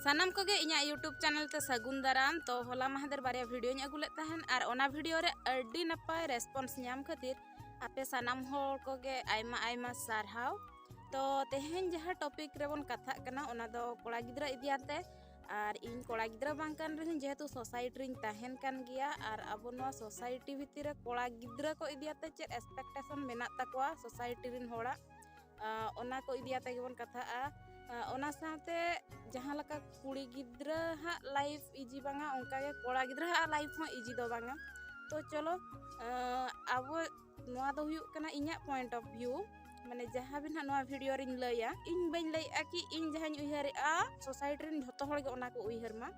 ᱥᱟᱱᱟᱢ ᱠᱚᱜᱮ ᱤᱧᱟᱹᱜ ᱤᱭᱩᱴᱩᱵᱽ ᱪᱮᱱᱮᱞ ᱛᱮ ᱥᱟᱹᱜᱩᱱ ᱫᱟᱨᱟᱢ ᱛᱚ ᱦᱚᱞᱟ ᱢᱟᱦᱫᱮᱨ ᱵᱟᱨᱭᱟ ᱵᱷᱤᱰᱤᱭᱳᱧ ᱟᱹᱜᱩ ᱞᱮᱫ ᱛᱟᱦᱮᱱ ᱟᱨ ᱚᱱᱟ ᱵᱷᱤᱰᱤᱭᱳ ᱨᱮ ᱟᱹᱰᱤ ᱱᱟᱯᱟᱭ ᱨᱮᱥᱯᱚᱱᱥ ᱧᱟᱢ ᱠᱷᱟᱹᱛᱤᱨ ᱟᱯᱮ ᱥᱟᱱᱟᱢ ᱦᱚᱲ ᱠᱚᱜᱮ ᱟᱭᱢᱟ ᱟᱭᱢᱟ ᱥᱟᱨᱦᱟᱣ ᱛᱚ ᱛᱮᱦᱮᱧ ᱡᱟᱦᱟᱸ ᱴᱚᱯᱤᱠ ᱨᱮᱵᱚᱱ ᱠᱟᱛᱷᱟᱜ ᱠᱟᱱᱟ ᱚᱱᱟ ᱫᱚ ᱠᱚᱲᱟ ᱜᱤᱫᱽᱨᱟᱹ ᱤᱫᱤᱭᱟᱛᱮ ᱟᱨ ᱤᱧ ᱠᱚᱲᱟ ᱜᱤᱫᱽᱨᱟᱹ ᱵᱟᱝ ᱠᱟᱱ ᱨᱮᱦᱚᱸ ᱡᱮᱦᱮᱛᱩ ᱥᱳᱥᱟᱭᱴᱤ ᱨᱤᱧ ᱛᱟᱦᱮᱱ ᱠᱟᱱ ᱜᱮᱭᱟ ᱟᱨ ᱟᱵᱚ ᱱᱚᱣᱟ ᱥᱳᱥᱟᱭᱴᱤ ᱵᱷᱤᱛᱤᱨ ᱨᱮ ᱠᱚᱲᱟ ᱜᱤᱫᱽᱨᱟᱹ ᱠᱚ ᱤᱫᱤᱭᱟᱛᱮ ᱪᱮᱫ ᱮᱠᱥᱯᱮᱠᱴᱮᱥᱚᱱ ᱢᱮᱱᱟᱜ ᱛᱟᱠᱚᱣᱟ ᱥᱳᱥᱟᱭᱴᱤ ᱨᱮᱱ ᱦᱚᱲᱟᱜ ᱚᱱᱟ ᱠᱚ ᱤᱫᱤ ᱟᱛᱮ ᱜᱮᱵᱚᱱ ᱠᱟᱛᱷᱟᱜᱼᱟ ᱚᱱᱟ ᱥᱟᱶᱛᱮ ᱡᱟᱦᱟᱸ ᱞᱮᱠᱟ ᱠᱩᱲᱤ ᱜᱤᱫᱽᱨᱟᱹ ᱦᱟᱸᱜ ᱞᱟᱭᱤᱯᱷ ᱤᱡᱤ ᱵᱟᱝᱟ ᱚᱱᱠᱟᱜᱮ ᱠᱚᱲᱟ ᱜᱤᱫᱽᱨᱟᱹ ᱦᱟᱸᱜ ᱞᱟᱭᱤᱯᱷ ᱦᱚᱸ ᱤᱡᱤ ᱫᱚ ᱵᱟᱝᱟ ᱛᱚ ᱪᱚᱞᱚ ᱟᱵᱚ ᱱᱚᱣᱟ ᱫᱚ ᱦᱩᱭᱩᱜ ᱠᱟᱱᱟ ᱤᱧᱟᱹᱜ ᱯᱚᱭᱮᱱᱴ ᱚᱯᱷ ᱵᱷᱤᱭᱩ ᱢᱟᱱᱮ ᱡᱟᱦᱟᱸ ᱵᱤᱱ ᱦᱟᱸᱜ ᱱᱚᱣᱟ ᱵᱷᱤᱰᱤᱭᱳ ᱨᱤᱧ ᱞᱟᱹᱭᱟ ᱤᱧ ᱵᱟᱹᱧ ᱞᱟᱹᱭᱮᱜᱼᱟ ᱠᱤ ᱤᱧ ᱡᱟᱦᱟᱸᱧ ᱩᱭᱦᱟᱹᱨᱮᱜᱼᱟ ᱥᱳᱥᱟᱭᱴᱤ ᱨᱮᱱ ᱡᱷᱚᱛᱚ ᱦᱚᱲ ᱜᱮ ᱚᱱᱟ ᱠᱚ ᱩᱭᱦᱟᱹᱨ ᱢᱟ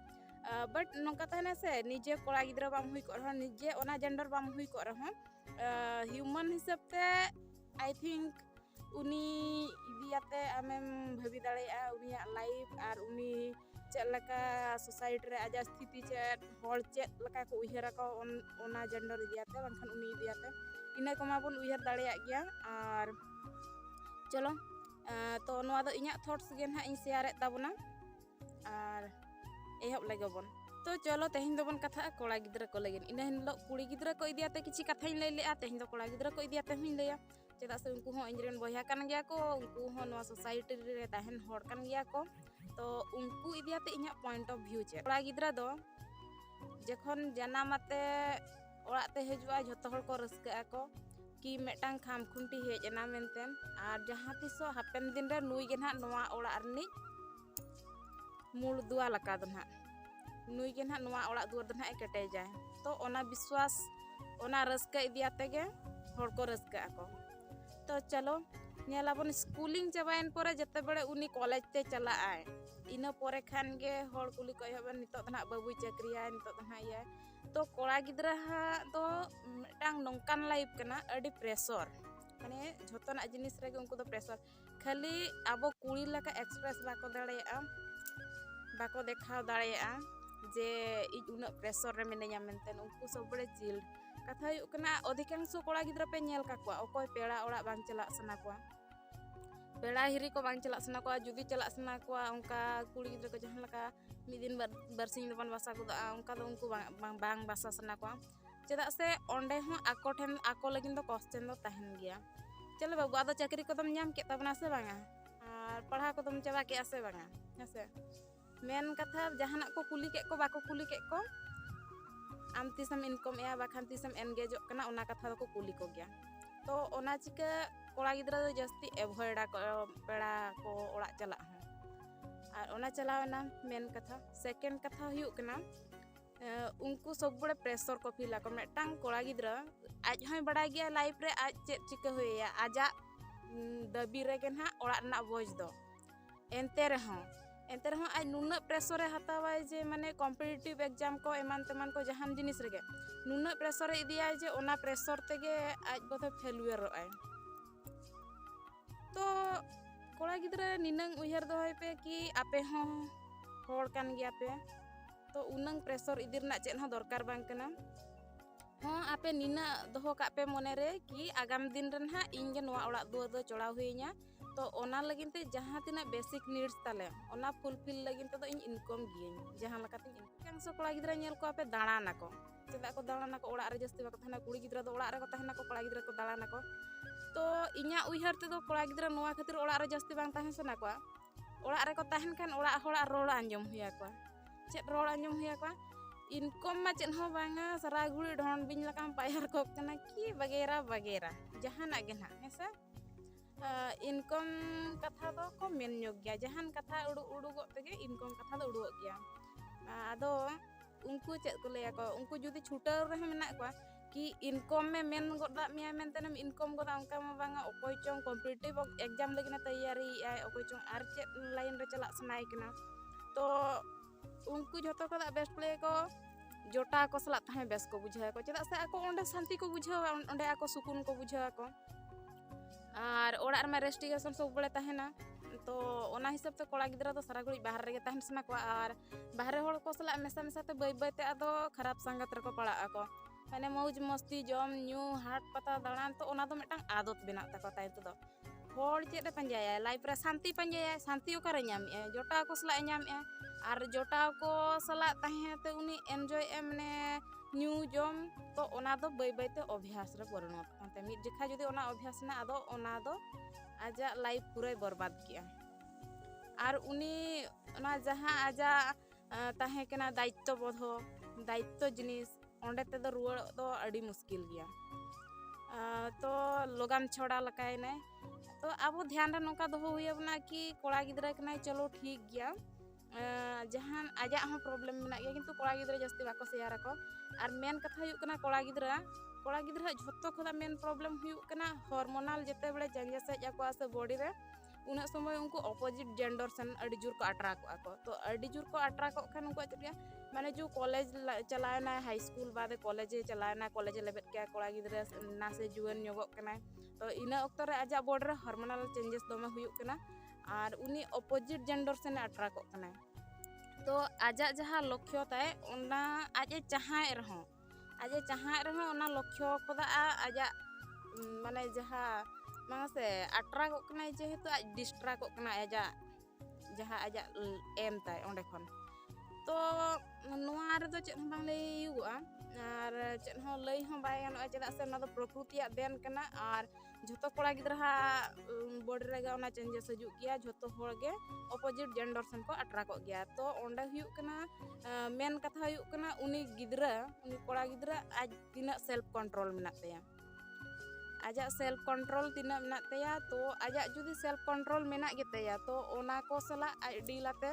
ᱵᱟᱴ ᱱᱚᱝᱠᱟ ᱛᱟᱦᱮᱱᱟ ᱥᱮ ᱱᱤᱡᱮ ᱠᱚᱲᱟ ᱜᱤᱫᱽᱨᱟᱹ ᱵᱟᱢ ᱦᱩᱭ ᱠᱚᱜ ᱨᱮᱦᱚᱸ ᱱᱤᱡᱮ ᱚᱱᱟ ᱡᱮᱱᱰᱟᱨ ᱵᱟᱢ ᱦᱩᱭ ᱠᱚᱜ ᱨᱮᱦᱚᱸ ᱦᱤᱭᱩᱢᱟᱱ ᱦᱤᱥᱟᱹᱵ ᱛᱮ ᱟᱭ ᱛᱷᱤᱝᱠ ᱩᱱᱤ ᱤᱫᱤᱭᱟᱛᱮ ᱟᱢᱮᱢ ᱵᱷᱟᱹᱵᱤ ᱫᱟᱲᱮᱭᱟᱜᱼᱟ ᱩᱱᱤᱭᱟᱜ ᱞᱟᱭᱤᱯᱷ ᱟᱨ ᱩᱱᱤ ᱪᱮᱫ ᱞᱮᱠᱟ ᱥᱳᱥᱟᱭᱴᱤ ᱨᱮ ᱟᱡᱟᱜ ᱥᱛᱷᱤᱛᱤ ᱪᱮᱫ ᱦᱚᱲ ᱪᱮᱫ ᱞᱮᱠᱟ ᱠᱚ ᱩᱭᱦᱟᱹᱨᱟᱠᱚ ᱚᱱᱟ ᱡᱮᱱᱰᱟᱨ ᱤᱫᱤᱭᱟᱛᱮ ᱵᱟᱝᱠᱷᱟᱱ ᱩᱱᱤ ᱤᱫᱤᱭᱟᱛᱮ ᱤᱱᱟᱹ ᱠᱚᱢᱟ ᱵᱚᱱ ᱩᱭᱦᱟᱹᱨ ᱫᱟᱲᱮᱭᱟᱜ ᱜᱮᱭᱟ ᱟᱨ ᱪᱚᱞᱚ ᱛᱚ ᱱᱚᱣᱟ ᱫᱚ ᱤᱧᱟᱹᱜ ᱛᱷᱚᱴᱥ ᱜᱮ ᱱᱟᱦᱟᱜ ᱤᱧ ᱥᱮᱭᱟᱨᱮᱫ ᱛᱟᱵᱚᱱᱟ ᱟᱨ ᱮᱦᱚᱵ ᱞᱮᱜᱮ ᱵᱚᱱ ᱛᱚ ᱪᱚᱞᱚ ᱛᱮᱦᱮᱧ ᱫᱚᱵᱚᱱ ᱠᱟᱛᱷᱟᱜᱼᱟ ᱠᱚᱲᱟ ᱜᱤᱫᱽᱨᱟᱹ ᱠᱚ ᱞᱟᱹᱜᱤᱫ ᱤᱱᱟᱹ ᱦᱤᱞᱳᱜ ᱠᱩᱲᱤ ᱜᱤᱫᱽᱨᱟᱹ ᱠᱚ ᱤᱫᱤᱭᱟᱛᱮ ᱠᱤᱪᱷᱩ ᱠᱟᱛᱷᱟᱧ ᱞᱟᱹᱭ ᱞᱮᱜᱼᱟ ᱛᱮᱦᱮᱧ ᱫᱚ ᱠᱚᱲᱟ ᱜᱤᱫᱽᱨᱟᱹ ᱠᱚ ᱤᱫᱤᱭᱟᱛᱮ ᱦᱚᱧ ᱞᱟᱹᱭᱟ ᱪᱮᱫᱟᱜ ᱥᱮ ᱩᱱᱠᱩ ᱦᱚᱸ ᱤᱧᱨᱮᱱ ᱵᱚᱭᱦᱟ ᱠᱟᱱ ᱜᱮᱭᱟ ᱠᱚ ᱩᱱᱠᱩ ᱦᱚᱸ ᱱᱚᱣᱟ ᱥᱳᱥᱟᱭᱴᱤ ᱨᱮ ᱛᱟᱦᱮᱱ ᱦᱚᱲ ᱠᱟᱱ ᱜᱮᱭᱟ ᱠᱚ ᱛᱚ ᱩᱱᱠᱩ ᱤᱫᱤᱭᱟᱛᱮ ᱤᱧᱟᱹᱜ ᱯᱚᱭᱮᱱᱴ ᱚᱯᱷ ᱵᱷᱤᱭᱩ ᱪᱮᱫ ᱠᱚᱲᱟ ᱜᱤᱫᱽᱨᱟᱹ ᱫᱚ ᱡᱚᱠᱷᱚᱱ ᱡᱟᱱᱟᱢ ᱟᱛᱮ ᱚᱲᱟᱜ ᱛᱮ ᱦᱤᱡᱩᱜᱼᱟ ᱡᱷᱚᱛᱚ ᱦᱚᱲ ᱠᱚ ᱨᱟᱹᱥᱠᱟᱹᱜ ᱟᱠᱚ ᱠᱤ ᱢᱤᱫᱴᱟᱝ ᱠᱷᱟᱢ ᱠᱷᱩᱱᱴᱤ ᱦᱮᱡ ᱮᱱᱟ ᱢᱮᱱᱛᱮ ᱟᱨ ᱡᱟᱦᱟᱸ ᱛᱤᱥᱚᱜ ᱦᱟᱯᱮᱱ ᱫᱤᱱ ᱨᱮ ᱱᱩᱭ ᱜᱮ ᱱᱟᱦᱟᱜ ᱱᱚᱣᱟ ᱚᱲᱟᱜ ᱨᱤᱱᱤᱡ ᱢᱩᱞ ᱫᱩᱣᱟ ᱞᱮᱠᱟ ᱫᱚ ᱱᱟᱦᱟᱜ ᱱᱩᱭ ᱜᱮ ᱱᱟᱦᱟᱜ ᱱᱚᱣᱟ ᱚᱲᱟᱜ ᱫᱩᱣᱟᱹᱨ ᱫᱚ ᱱᱟᱦᱟᱜ ᱮ ᱠᱮᱴᱮᱡᱟᱭ ᱛᱚ ᱚᱱᱟ ᱵᱤᱥᱣᱟᱥ ᱚᱱᱟ ᱨᱟᱹᱥᱠᱟᱹ ᱤᱫᱤᱭᱟᱛᱮ ᱜᱮ ᱦᱚᱲ ᱠᱚ ᱨᱟᱹᱥᱠᱟᱹᱜ ᱟᱠᱚ ᱛᱚ ᱪᱚᱞᱚ ᱧᱮᱞᱟᱵᱚᱱ ᱥᱠᱩᱞᱤᱝ ᱪᱟᱵᱟᱭᱮᱱ ᱯᱚᱨᱮ ᱡᱮᱛᱮ ᱵᱮᱲᱮ ᱩᱱᱤ ᱠᱚᱞᱮᱡᱽ ᱛᱮ ᱪᱟᱞᱟᱜ ᱟᱭ ᱤᱱᱟᱹ ᱯᱚᱨᱮ ᱠᱷᱟᱱ ᱜᱮ ᱦᱚᱲ ᱠᱩᱞᱤ ᱠᱚ ᱮᱦᱚᱵ ᱮᱱ ᱱᱤᱛᱚᱜ ᱫᱚ ᱱᱟᱦᱟᱜ ᱵᱟᱹᱵᱩᱭ ᱪᱟᱹᱠᱨᱤᱭᱟᱭ ᱱᱤᱛᱚᱜ ᱫᱚ ᱱᱟᱦᱟᱜ ᱤᱭᱟᱹ ᱛᱚ ᱠᱚᱲᱟ ᱜᱤᱫᱽᱨᱟᱹ ᱦᱟᱜ ᱫᱚ ᱢᱤᱫᱴᱟᱝ ᱱᱚᱝᱠᱟᱱ ᱞᱟᱭᱤᱯ ᱠᱟᱱᱟ ᱟᱹᱰᱤ ᱯᱨᱮᱥᱚᱨ ᱢᱟᱱᱮ ᱡᱷᱚᱛᱚᱱᱟᱜ ᱡᱤᱱᱤᱥ ᱨᱮᱜᱮ ᱩᱱᱠᱩ ᱫᱚ ᱯᱨᱮᱥᱚᱨ ᱠᱷᱟᱹᱞᱤ ᱟᱵᱚ ᱠᱩᱲᱤ ᱞᱮᱠᱟ ᱮᱠᱥᱯᱨᱮᱥ ᱵᱟᱠᱚ ᱫᱟᱲᱮᱭᱟᱜᱼᱟ ᱵᱟᱠᱚ ᱫᱮᱠᱷᱟᱣ ᱫᱟᱲᱮᱭᱟᱜᱼᱟ ᱡᱮ ᱤᱧ ᱩᱱᱟᱹᱜ ᱯᱨᱮᱥᱚᱨ ᱨᱮ ᱢᱤᱱᱟᱹᱧᱟ ᱢᱮᱱᱛᱮ ᱩᱱᱠᱩ ᱥᱚᱵᱲᱮ ᱪᱤᱞ ᱠᱟᱛᱷᱟ ᱦᱩᱭᱩᱜ ᱠᱟᱱᱟ ᱚᱫᱷᱤᱠᱟᱝᱥᱚ ᱠᱚᱲᱟ ᱜᱤᱫᱽᱨᱟᱹ ᱯᱮ ᱧᱮᱞ ᱠᱟᱠᱚᱣᱟ ᱚᱠᱚᱭ ᱯᱮᱲᱟ ᱚᱲᱟᱜ ᱵᱟᱝ ᱪᱟᱞᱟᱜ ᱥᱟᱱᱟ ᱠᱚᱣᱟ ᱯᱮᱲᱟ ᱦᱤᱨᱤ ᱠᱚ ᱵᱟᱝ ᱪᱟᱞᱟᱜ ᱥᱟᱱᱟ ᱠᱚᱣᱟ ᱡᱩᱫᱤ ᱪᱟᱞᱟᱜ ᱥᱟᱱᱟ ᱠᱚᱣᱟ ᱚᱱᱠᱟ ᱠᱩᱲᱤ ᱜᱤᱫᱽᱨᱟᱹ ᱠᱚ ᱡᱟᱦᱟᱸ ᱞᱮᱠᱟ ᱢᱤᱫ ᱫᱤᱱ ᱵᱟᱨᱥᱤᱧ ᱫᱚᱵᱚᱱ ᱵᱟᱥᱟ ᱜᱚᱫᱚᱜᱼᱟ ᱚᱱᱠᱟ ᱫᱚ ᱩᱱᱠᱩ ᱵᱟᱝ ᱵᱟᱝ ᱵᱟᱥᱟ ᱥᱟᱱᱟ ᱠᱚᱣᱟ ᱪᱮᱫᱟᱜ ᱥᱮ ᱚᱸᱰᱮ ᱦᱚᱸ ᱟᱠᱚ ᱴᱷᱮᱱ ᱟᱠᱚ ᱞᱟᱹᱜᱤᱫ ᱫᱚ ᱠᱚᱥᱪᱮᱱ ᱫᱚ ᱛᱟᱦᱮᱱ ᱜᱮᱭᱟ ᱪᱚᱞᱚ ᱵᱟᱹᱵᱩ ᱟᱫᱚ ᱪᱟᱹᱠᱨᱤ ᱠᱚᱫᱚᱢ ᱧᱟᱢ ᱠᱮᱫ ᱛᱟᱵᱚᱱᱟ ᱥᱮ ᱵᱟᱝᱟ ᱟᱨ ᱯᱟᱲᱦᱟᱣ ᱠᱚᱫᱚᱢ ᱪᱟᱵᱟ ᱠᱮᱫᱼᱟ ᱥᱮ ᱵᱟᱝᱟ ᱦᱮᱸ ᱥᱮ ᱢᱮᱱ ᱠᱟᱛᱷᱟ ᱡᱟᱦᱟᱱᱟᱜ ᱠᱚ ᱠᱩᱞᱤ ᱠᱮᱫ ᱠᱚ ᱵᱟᱠᱚ ᱠᱩᱞᱤ ᱠᱮᱫ ᱠᱚ ᱟᱢ ᱛᱤᱥᱮᱢ ᱤᱱᱠᱚᱢᱮᱜᱼᱟ ᱵᱟᱠᱷᱟᱱ ᱛᱤᱥᱮᱢ ᱮᱱᱜᱮᱡᱚᱜ ᱠᱟᱱᱟ ᱚᱱᱟ ᱠᱟᱛᱷᱟ ᱫᱚᱠᱚ ᱠᱩᱞᱤ ᱠᱚᱜᱮᱭᱟ ᱛᱚ ᱚᱱᱟ ᱪᱤᱠᱟᱹ ᱠᱚᱲᱟ ᱜᱤᱫᱽᱨᱟᱹ ᱫᱚ ᱡᱟᱹᱥᱛᱤ ᱮᱵᱷᱚᱭᱮᱰᱟ ᱠᱚ ᱯᱮᱲᱟ ᱠᱚ ᱚᱲᱟᱜ ᱪᱟᱞᱟᱜ ᱦᱚᱸ ᱟᱨ ᱚᱱᱟ ᱪᱟᱞᱟᱣᱮᱱᱟ ᱢᱮᱱ ᱠᱟᱛᱷᱟ ᱥᱮᱠᱮᱱᱰ ᱠᱟᱛᱷᱟ ᱦᱩᱭᱩᱜ ᱠᱟᱱᱟ ᱩᱱᱠᱩ ᱥᱚᱵ ᱵᱚᱲᱮ ᱯᱨᱮᱥᱚᱨ ᱠᱚ ᱯᱷᱤᱞ ᱟᱠᱚ ᱢᱤᱫᱴᱟᱝ ᱠᱚᱲᱟ ᱜᱤᱫᱽᱨᱟᱹ ᱟᱡ ᱦᱚᱸᱭ ᱵᱟᱲᱟᱭ ᱜᱮᱭᱟ ᱞᱟᱭᱤᱯᱷ ᱨᱮ ᱟᱡ ᱪᱮᱫ ᱪᱤᱠᱟᱹ ᱦᱩᱭᱟᱭᱟ ᱟᱡᱟᱜ ᱫᱟᱹᱵᱤ ᱨᱮᱜᱮ ᱱᱟᱦᱟᱜ ᱚᱲᱟᱜ ᱨᱮᱱᱟᱜ ᱵᱚᱡᱽ ᱫᱚ ᱮᱱᱛᱮ ᱨᱮᱦᱚᱸ ᱮᱱᱛᱮ ᱨᱮᱦᱚᱸ ᱟᱡ ᱱᱩᱱᱟᱹᱜ ᱯᱨᱮᱥᱚᱨᱮ ᱦᱟᱛᱟᱣᱟᱭ ᱡᱮ ᱢᱟᱱᱮ ᱠᱚᱢᱯᱤᱴᱤᱴᱤᱵᱽ ᱮᱠᱡᱟᱢ ᱠᱚ ᱮᱢᱟᱱ ᱛᱮᱢᱟᱱ ᱠᱚ ᱡᱟᱦᱟᱱ ᱡᱤᱱᱤᱥ ᱨᱮᱜᱮ ᱱᱩᱱᱟᱹᱜ ᱯᱨᱮᱥᱚᱨᱮ ᱤᱫᱤᱭᱟᱭ ᱡᱮ ᱚᱱᱟ ᱯᱨᱮᱥᱚᱨ ᱛᱮᱜᱮ ᱟᱡ ᱵᱚᱫᱷᱚ ᱯᱷᱮᱞᱩᱭᱟᱨᱚᱜ ᱟᱭ ᱛᱚ ᱠᱚᱲᱟ ᱜᱤᱫᱽᱨᱟᱹ ᱱᱤᱱᱟᱹᱝ ᱩᱭᱦᱟᱹᱨ ᱫᱚᱦᱚᱭ ᱯᱮ ᱠᱤ ᱟᱯᱮ ᱦᱚᱸ ᱦᱚᱲ ᱠᱟᱱ ᱜᱮᱭᱟ ᱯᱮ ᱛᱚ ᱩᱱᱟᱹᱝ ᱯᱨᱮᱥᱚᱨ ᱤᱫᱤ ᱨᱮᱱᱟᱜ ᱪᱮᱫ ᱦᱚᱸ ᱫᱚᱨᱠᱟᱨ ᱵᱟᱝ ᱠᱟᱱᱟ ᱦᱚᱸ ᱟᱯᱮ ᱱᱤᱱᱟᱹᱜ ᱫᱚᱦᱚ ᱠᱟᱜ ᱯᱮ ᱢᱚᱱᱮᱨᱮ ᱠᱤ ᱟᱜᱟᱢ ᱫᱤᱱ ᱨᱮ ᱱᱟᱦᱟᱜ ᱤᱧᱜᱮ ᱱᱚᱣᱟ ᱚᱲᱟᱜ ᱫᱩᱣᱟᱹᱨ ᱫᱚ ᱪᱚᱲᱟᱣ ᱦᱩᱭᱤᱧᱟ ᱛᱚ ᱚᱱᱟ ᱞᱟᱹᱜᱤᱫ ᱛᱮ ᱡᱟᱦᱟᱸ ᱛᱤᱱᱟᱹᱜ ᱵᱮᱥᱤᱠ ᱱᱤᱰᱥ ᱛᱟᱞᱮ ᱚᱱᱟ ᱯᱷᱩᱞᱯᱷᱤᱞ ᱞᱟᱹᱜᱤᱫ ᱛᱮᱫᱚ ᱤᱧ ᱤᱱᱠᱚᱢ ᱜᱤᱭᱟᱹᱧ ᱡᱟᱦᱟᱸ ᱞᱮᱠᱟᱛᱤᱧ ᱚᱫᱷᱤᱠᱟᱝᱥᱚ ᱠᱚᱲᱟ ᱜᱤᱫᱽᱨᱟᱹ ᱧᱮᱞ ᱠᱚᱣᱟ ᱯᱮ ᱫᱟᱬᱟᱱᱟᱠᱚ ᱪᱮᱫᱟᱜ ᱠᱚ ᱫᱟᱬᱟᱱᱟᱠᱚ ᱚᱲᱟᱜ ᱨᱮ ᱡᱟᱹᱥᱛᱤ ᱵᱟᱠᱚ ᱛᱟᱦᱮᱱᱟ ᱠᱩᱲᱤ ᱜᱤᱫᱽᱨᱟᱹ ᱫᱚ ᱚᱲᱟᱜ ᱨᱮᱠᱚ ᱛᱟᱦᱮᱱᱟᱠᱚ ᱠᱚᱲᱟ ᱜᱤᱫᱽᱨᱟᱹ ᱠᱚ ᱫᱟᱬᱟᱱᱟᱠᱚ ᱛᱚ ᱤᱧᱟᱹᱜ ᱩᱭᱦᱟᱹᱨ ᱛᱮᱫᱚ ᱠᱚᱲᱟ ᱜᱤᱫᱽᱨᱟᱹ ᱱᱚᱣᱟ ᱠᱷᱟᱹᱛᱤᱨ ᱚᱲᱟᱜ ᱨᱮ ᱡᱟᱹᱥᱛᱤ ᱵᱟᱝ ᱛᱟᱦᱮᱸ ᱥᱟᱱᱟ ᱠᱚᱣᱟ ᱚᱲᱟᱜ ᱨᱮᱠᱚ ᱛᱟᱦᱮᱱ ᱠᱷᱟᱱ ᱚᱲᱟᱜ ᱦᱚᱲᱟᱜ ᱨᱚᱲ ᱟᱸᱡᱚᱢ ᱦᱩᱭ ᱟᱠᱚᱣᱟ ᱪᱮᱫ ᱨᱚᱲ ᱟᱸᱡᱚᱢ ᱦᱩᱭ ᱟᱠᱚᱣᱟ ᱤᱱᱠᱚᱢ ᱢᱟ ᱪᱮᱫ ᱦᱚᱸ ᱵᱟᱝᱟ ᱥᱟᱨᱟ ᱜᱷᱩᱲᱤ ᱰᱷᱚᱱ ᱵᱤᱧ ᱞᱮᱠᱟᱢ ᱯᱟᱭᱦᱟᱨ ᱠᱚᱜ ᱠᱟᱱᱟ ᱠᱤ ᱵᱟᱜᱮᱨᱟ ᱵᱟᱜᱮᱨᱟ ᱡᱟᱦᱟᱱᱟᱜ ᱜᱮ ᱱᱟᱦᱟᱜ ᱦᱮᱸᱥᱮ ᱤᱱᱠᱚᱢ ᱠᱟᱛᱷᱟ ᱫᱚ ᱠᱚ ᱢᱮᱱ ᱧᱚᱜ ᱜᱮᱭᱟ ᱡᱟᱦᱟᱱ ᱠᱟᱛᱷᱟ ᱩᱰᱩᱠ ᱩᱰᱩᱠᱚᱜ ᱛᱮᱜᱮ ᱤᱱᱠᱚᱢ ᱠᱟᱛᱷᱟ ᱫᱚ ᱩᱰᱩᱠᱚᱜ ᱜᱮᱭᱟ ᱟᱫᱚ ᱩᱱᱠᱩ ᱪᱮᱫ ᱠᱚ ᱞᱟᱹᱭᱟᱠᱚ ᱩᱱᱠᱩ ᱡᱩᱫᱤ ᱪᱷᱩᱴᱟᱹᱣ ᱨᱮᱦᱚᱸ ᱢᱮᱱᱟᱜ ᱠᱚᱣᱟ ᱠᱤ ᱤᱱᱠᱚᱢ ᱢᱮ ᱢᱮᱱ ᱜᱚᱫ ᱟᱫ ᱢᱮᱭᱟ ᱢᱮᱱᱛᱮᱢ ᱤᱱᱠᱚᱢ ᱜᱚᱫᱟ ᱚᱱᱠᱟ ᱢᱟ ᱵᱟᱝᱟ ᱚᱠᱚᱭ ᱪᱚᱝ ᱠᱚᱢᱯᱤᱴᱤᱴᱤᱵᱽ ᱮᱠᱡᱟᱢ ᱞᱟᱹᱜᱤᱫ ᱮ ᱛᱮᱭᱟᱨᱤᱭᱮᱫ ᱟᱭ ᱚᱠᱚᱭ ᱪᱚᱝ ᱟᱨ ᱪᱮᱫ ᱞᱟᱭᱤᱱ ᱨᱮ ᱪᱟᱞᱟᱜ ᱥᱟᱱᱟᱭᱮ ᱠᱟᱱᱟ ᱛᱚ ᱩᱱᱠᱩ ᱡᱚᱛᱚ ᱠᱷᱚᱱᱟᱜ ᱵᱮᱥ ᱯᱞᱮ ᱠᱚ ᱡᱚᱴᱟ ᱠᱚ ᱥᱟᱞᱟᱜ ᱛᱟᱦᱮᱸ ᱵᱮᱥ ᱠᱚ ᱵᱩᱡᱷᱟᱹᱣ ᱟᱠᱚ ᱪᱮᱫᱟᱜ ᱥᱮ ᱟᱠᱚ ᱚᱸᱰᱮ ᱥᱟᱱᱛᱤ ᱠᱚ ᱵᱩᱡᱷᱟᱹᱣᱟ ᱚᱸᱰᱮ ᱟᱠᱚ ᱥᱩᱠᱩᱱ ᱠᱚ ᱵᱩᱡᱷᱟᱹᱣ ᱟᱠᱚ ᱟᱨ ᱚᱲᱟᱜ ᱨᱮᱢᱟ ᱨᱮᱥᱴᱤᱜᱮᱥᱚᱱ ᱥᱚᱵ ᱵᱚᱞᱮ ᱛᱟᱦᱮᱱᱟ ᱛᱚ ᱚᱱᱟ ᱦᱤᱥᱟᱹᱵ ᱛᱮ ᱠᱚᱲᱟ ᱜᱤᱫᱽᱨᱟᱹ ᱫᱚ ᱥᱟᱨᱟ ᱜᱷᱟᱹᱲᱤᱡ ᱵᱟᱦᱨᱮ ᱨᱮᱜᱮ ᱛᱟᱦᱮᱱ ᱥᱟᱱᱟ ᱠᱚᱣᱟ ᱟᱨ ᱵᱟᱦᱨᱮ ᱦᱚᱲ ᱠᱚ ᱥᱟᱞᱟᱜ ᱢᱮᱥᱟ ᱢᱮᱥᱟ ᱛᱮ ᱵᱟᱹᱭ ᱵᱟᱹᱭ ᱛᱮ ᱟᱫᱚ ᱠᱷᱟᱨᱟᱯ ᱥᱟᱸᱜᱟᱛ ᱨᱮᱠᱚ ᱯᱟᱲᱟᱜ ᱟᱠᱚ ᱢᱟᱱᱮ ᱢᱚᱡᱽ ᱢᱚᱥᱛᱤ ᱡᱚᱢ ᱧᱩ ᱦᱟᱴ ᱯᱟᱛᱟ ᱫᱟᱬᱟᱱ ᱛᱚ ᱚᱱᱟ ᱫᱚ ᱢᱤᱫᱴᱟᱝ ᱟᱫᱚᱛ ᱵᱮᱱᱟᱜ ᱛᱟᱠᱚᱣᱟ ᱛᱟᱭᱚᱢ ᱛᱮᱫᱚ ᱦᱚᱲ ᱪᱮᱫ ᱮ ᱯᱟᱸᱡᱟᱭᱟ ᱞᱟᱭᱤᱯᱷ ᱨᱮ ᱥᱟᱱᱛᱤ ᱯᱟᱸᱡᱟᱭᱟ ᱥᱟᱱᱛᱤ ᱚᱠᱟᱨᱮ ᱧᱟᱢᱮᱜᱼᱟ ᱡᱚᱴᱟᱣ ᱠᱚ ᱥᱟᱞᱟᱜ ᱮ ᱧᱟᱢᱮᱜᱼᱟ ᱟᱨ ᱡᱚᱴᱟᱣ ᱠᱚ ᱥᱟᱞᱟᱜ ᱛᱟᱦᱮᱸ ᱛᱮ ᱩᱱᱤ ᱮᱱᱡᱚᱭ ᱮ ᱢᱟᱱᱮ ᱧᱩ ᱡᱚᱢ ᱛᱚ ᱚᱱᱟ ᱫᱚ ᱵᱟᱹᱭ ᱵᱟᱹᱭ ᱛᱮ ᱚᱵᱷᱭᱟᱥ ᱨᱮ ᱯᱚᱨᱤᱱᱚᱛ ᱠᱟᱱ ᱛᱟᱭᱟ ᱢᱤᱫ ᱡᱚᱠᱷᱟ ᱡᱩᱫᱤ ᱚᱱᱟ ᱚᱵᱷᱭᱟᱥ ᱮᱱᱟ ᱟᱫᱚ ᱚᱱᱟ ᱫᱚ ᱟᱡᱟᱜ ᱞᱟᱭᱤᱯᱷ ᱯᱩᱨᱟᱹᱭ ᱵᱚᱨᱵᱟᱫ ᱠᱮᱜᱼᱟ ᱟᱨ ᱩᱱᱤ ᱚᱱᱟ ᱡᱟᱦᱟᱸ ᱟᱡᱟᱜ ᱛᱟᱦᱮᱸ ᱠᱟᱱᱟ ᱫᱟᱭᱤᱛᱛᱚ ᱵᱚᱫᱷᱚ ᱫᱟᱭᱤᱛᱛᱚ ᱡᱤᱱᱤᱥ ᱚᱸᱰᱮ ᱛᱮᱫᱚ ᱨᱩᱣᱟᱹᱲ ᱫᱚ ᱟᱹᱰᱤ ᱢᱩᱥᱠᱤᱞ ᱜᱮᱭᱟ ᱛᱚ ᱞᱚᱜᱟᱱ ᱪᱷᱚᱲᱟ ᱞᱮᱠᱟᱭᱮᱱᱟᱭ ᱛᱚ ᱟᱵᱚ ᱫᱷᱮᱭᱟᱱ ᱨᱮ ᱱᱚᱝᱠᱟ ᱫᱚᱦᱚ ᱦᱩᱭ ᱟᱵᱚᱱᱟ ᱠᱤ ᱠᱚᱲᱟ ᱜᱤᱫᱽᱨᱟᱹ ᱠᱟᱱᱟᱭ ᱪᱚᱞᱚ ᱴᱷᱤᱠ ᱜᱮᱭᱟ ᱡᱟᱦᱟᱱ ᱟᱡᱟᱜ ᱦᱚᱸ ᱯᱨᱚᱵᱞᱮᱢ ᱢᱮᱱᱟᱜ ᱜᱮᱭᱟ ᱠᱤᱱᱛᱩ ᱠᱚᱲᱟ ᱜᱤᱫᱽᱨᱟᱹ ᱡᱟᱹᱥᱛᱤ ᱵᱟᱠᱚ ᱥᱮᱭᱟᱨ ᱟᱠᱚ ᱟᱨ ᱢᱮᱱ ᱠᱟᱛᱷᱟ ᱦᱩᱭᱩᱜ ᱠᱟᱱᱟ ᱠᱚᱲᱟ ᱜᱤᱫᱽᱨᱟᱹ ᱠᱚᱲᱟ ᱜᱤᱫᱽᱨᱟᱹ ᱡᱷᱚᱛᱚ ᱠᱷᱚᱱᱟᱜ ᱢᱮᱱ ᱯᱨᱚᱵᱞᱮᱢ ᱦᱩᱭᱩᱜ ᱠᱟᱱᱟ ᱦᱚᱨᱢᱚᱱᱟᱞ ᱡᱮᱛᱮ ᱵᱮᱲᱮ ᱪᱮᱧᱡᱮᱥ ᱦᱮᱡ ᱟᱠᱚᱣᱟ ᱥᱮ ᱵᱚᱰᱤ ᱨᱮ ᱩᱱᱟᱹᱜ ᱥᱚᱢᱚᱭ ᱩᱱᱠᱩ ᱚᱯᱚᱡᱤᱴ ᱡᱮᱱᱰᱚᱨ ᱥᱮᱱ ᱟᱹᱰᱤ ᱡᱳᱨ ᱠᱚ ᱟᱴᱨᱟ ᱠᱚᱜᱼᱟ ᱠᱚ ᱛᱚ ᱟᱹᱰᱤ ᱡᱳᱨ ᱠᱚ ᱟᱴᱨᱟ ᱠᱚᱜ ᱠᱷᱟᱱ ᱩᱱᱠᱩᱣᱟᱜ ᱪᱮᱫ ᱢᱟᱱᱮ ᱡᱩ ᱠᱚᱞᱮᱡᱽ ᱪᱟᱞᱟᱣᱮᱱᱟ ᱦᱟᱭ ᱥᱠᱩᱞ ᱵᱟᱫᱮ ᱠᱚᱞᱮᱡᱮ ᱪᱟᱞᱟᱣᱮᱱᱟ ᱠᱚᱞᱮᱡᱮ ᱞᱮᱵᱮᱫ ᱠᱮᱭᱟ ᱠᱚᱲᱟ ᱜᱤᱫᱽᱨᱟᱹ ᱱᱟᱥᱮ ᱡᱩᱣᱟᱹᱱ ᱧᱚᱜᱚᱜ ᱠᱟᱱᱟᱭ ᱛᱚ ᱤᱱᱟᱹ ᱚᱠᱛᱚ ᱨᱮ ᱟᱡᱟᱜ ᱵᱚᱰᱤ ᱨᱮ ᱦᱚᱨᱢᱚᱱᱟᱞ ᱪᱮᱧᱡᱮᱥ ᱫᱚᱢᱮ ᱦᱩᱭᱩᱜ ᱠᱟᱱᱟ ᱟᱨ ᱩᱱᱤ ᱚᱯᱚᱡᱤᱴ ᱡᱮᱱᱰᱚᱨ ᱥᱮᱱᱮ ᱟᱴᱨᱟ ᱠᱚᱜ ᱠᱟᱱᱟᱭ ᱛᱚ ᱟᱡᱟᱜ ᱡᱟᱦᱟᱸ ᱞᱚᱠᱠᱷᱚ ᱛᱟᱭ ᱚᱱᱟ ᱟᱡ ᱮ ᱡᱟᱦᱟᱸᱭ ᱨᱮᱦᱚᱸ ᱟᱡ ᱮ ᱪᱟᱦᱟᱣᱮᱫ ᱨᱮᱦᱚᱸ ᱚᱱᱟ ᱞᱚᱠᱠᱷᱚ ᱠᱚᱫᱚ ᱟᱡᱟᱜ ᱢᱟᱱᱮ ᱡᱟᱦᱟᱸ ᱵᱟᱝ ᱥᱮ ᱟᱴᱨᱟᱠᱚᱜ ᱠᱟᱱᱟᱭ ᱡᱮᱦᱮᱛᱩ ᱟᱡ ᱰᱤᱥᱴᱨᱟᱠᱚᱜ ᱠᱟᱱᱟᱭ ᱟᱡᱟᱜ ᱡᱟᱦᱟᱸ ᱟᱡᱟᱜ ᱮᱢ ᱛᱟᱭ ᱚᱸᱰᱮ ᱠᱷᱚᱱ ᱛᱚ ᱱᱚᱣᱟ ᱨᱮᱫᱚ ᱪᱮᱫ ᱦᱚᱸ ᱵᱟᱝ ᱞᱟᱹᱭ ᱦᱩᱭᱩᱜᱚᱜᱼᱟ ᱟᱨ ᱪᱮᱫ ᱦᱚᱸ ᱞᱟᱹᱭ ᱦᱚᱸ ᱵᱟᱭ ᱜᱟᱱᱚᱜᱼᱟ ᱪᱮᱫᱟᱜ ᱥᱮ ᱱᱚᱣᱟ ᱫᱚ ᱯᱨᱚᱠᱨᱤᱛᱤᱭᱟᱜ ᱫᱮᱱ ᱠᱟᱱᱟ ᱟᱨ ᱡᱷᱚᱛᱚ ᱠᱚᱲᱟ ᱜᱤᱫᱽᱨᱟᱹ ᱦᱟᱜ ᱵᱚᱰᱤ ᱨᱮᱜᱮ ᱚᱱᱟ ᱪᱮᱧᱡᱮᱥ ᱦᱤᱡᱩᱜ ᱜᱮᱭᱟ ᱡᱷᱚᱛᱚ ᱦᱚᱲ ᱜᱮ ᱚᱯᱳᱡᱤᱴ ᱡᱮᱱᱰᱚᱨ ᱥᱮᱱ ᱠᱚ ᱟᱴᱨᱟᱠᱚᱜ ᱜᱮᱭᱟ ᱛᱚ ᱚᱸᱰᱮ ᱦᱩᱭᱩᱜ ᱠᱟᱱᱟ ᱢᱮᱱ ᱠᱟᱛᱷᱟ ᱦᱩᱭᱩᱜ ᱠᱟᱱᱟ ᱩᱱᱤ ᱜᱤᱫᱽᱨᱟᱹ ᱩᱱᱤ ᱠᱚᱲᱟ ᱜᱤᱫᱽᱨᱟᱹ ᱟᱡ ᱛᱤᱱᱟᱹᱜ ᱥᱮᱞᱯ ᱠᱚᱱᱴᱨᱳᱞ ᱢᱮᱱᱟᱜ ᱛᱟᱭᱟ ᱟᱡᱟᱜ ᱥᱮᱞᱯ ᱠᱚᱱᱴᱨᱳᱞ ᱛᱤᱱᱟᱹᱜ ᱢᱮᱱᱟᱜ ᱛᱟᱭᱟ ᱛᱚ ᱟᱡᱟᱜ ᱡᱩᱫᱤ ᱥᱮᱞᱯ ᱠᱚᱱᱴᱨᱳᱞ ᱢᱮᱱᱟᱜ ᱜᱮᱛᱟᱭᱟ ᱛᱚ ᱚᱱᱟ ᱠᱚ ᱥᱟᱞᱟᱜ ᱟᱡ ᱰᱤᱞ ᱟᱛᱮ